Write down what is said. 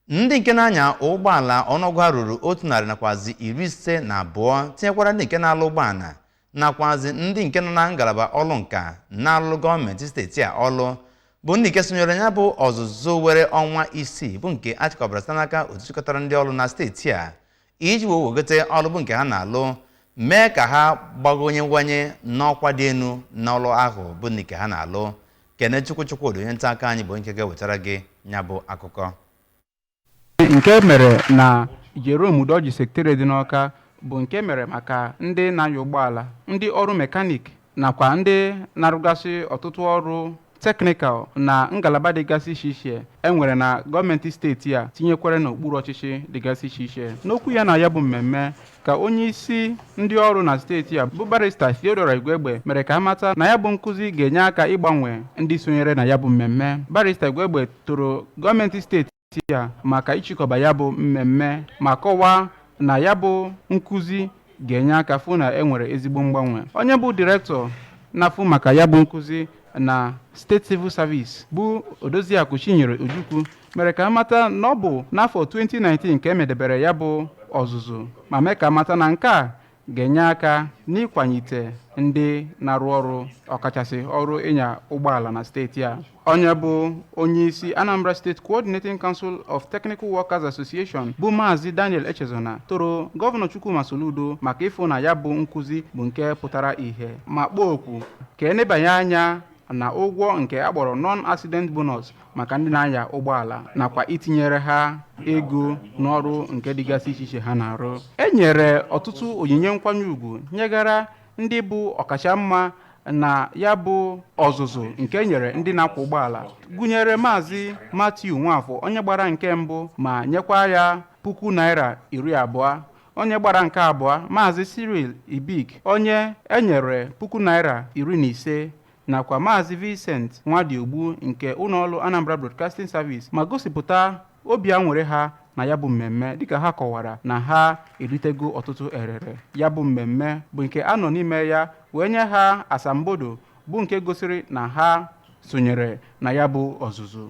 ndị nke na-anya ụgbọala ọnụọgụ ha ruru otu narị nakwazi iri ise na abụọ tinyekwara ndị nke na-alụ ụgbọala nakwazi ndị nke nọ na ngalaba ọlụ nka na-alụ gọọmenti steeti a ọlụ bụ ndị nke sonyere ya bụ ọzụzụ were ọnwa isii bụ nke a chịkọbara site n'aka otu chịkọtara ndị ọlụ na steeti a iji wee wegote ọlụ bụ nke ha na-alụ mee ka ha gbagonyewanye n'ọkwa dị elu n'ọlụ ahụ bụ nke ha na-alụ Kenechukwu Chukwodi onye nta akụkọ anyị bụ nke ga-ewetara gị ya bụ akụkọ nke mere na Jerome Udoji Secretariat dị n'Ọka bụ nke mere maka ndị na-anya ụgbọala ndị ọrụ mekanik nakwa ndị na-arụgasị ọtụtụ ọrụ teknikal na ngalaba dịgasị iche iche e nwere na gọọmenti steeti a tinyekwara n'okpuru ọchịchị dịgasị iche iche n'okwu ya na ya bụ mmemme ka onye isi ndị ọrụ na steeti a bụ barista Theodora Igwegbe mere ka a mata na ya bụ nkụzi ga-enye aka ịgbanwe ndị sonyere na ya bụ mmemme barista Igwegbe toro gọọmenti steeti a maka ịchịkọba ya bụ mmemme ma kọwaa na ya bụ nkụzi ga-enye aka fụ na e nwere ezigbo mgbanwe. Onye bụ direktọ na-afụ maka ya bụ nkụzi na State Civil Service bụ Odoziakụ Chinyere Ojukwu mere ka a mata na ọ bụ n'afọ 2019 ka e medebere ya bụ ọzụzụ ma mee ka a mata na nke a ga-enye aka n'ịkwanyite ndị na-arụ ọrụ ọkachasị ọrụ ịnya ụgbọala na steeti a onye bụ onyeisi Anambra State Coordinating Council of Technical Workers Association bụ Maazị Daniel Echezona toro gọvanọ Chukwuma Soludo maka ịfụ na ya bụ nkụzi bụ nke pụtara ihe ma kpọọ oku ka e nebanye anya na ụgwọ nke a kpọrọ non-accident bonus maka ndị na-anya ụgbọala nakwa itinyere ha ego n'ọrụ nke dịgasị iche iche ha na-arụ e nyere ọtụtụ onyinye nkwanye ugwu nyegara ndị bụ ọkachamma na ya bụ ọzụzụ nke e nyere ndị na-akwọ ụgbọala gụnyere maazị Matthew Nwafọ onye gbara nke mbụ ma nyekwa ya puku naira iri abụọ Onye gbara nke abụọ, Maazị Cyril Ibik, onye e nyere puku naira iri na ise nakwa Maazị Vincent Nwadiogbu nke ụlọọrụ Anambra Broadcasting Service ma gosipụta obi aṅụrị ha na ya bụ mmemme dịka ha kọwara na ha eritego ọtụtụ erere ya bụ mmemme bụ nke a nọ n'ime ya wee nye ha asambodo bụ nke gosiri na ha sonyere na ya bụ ọzụzụ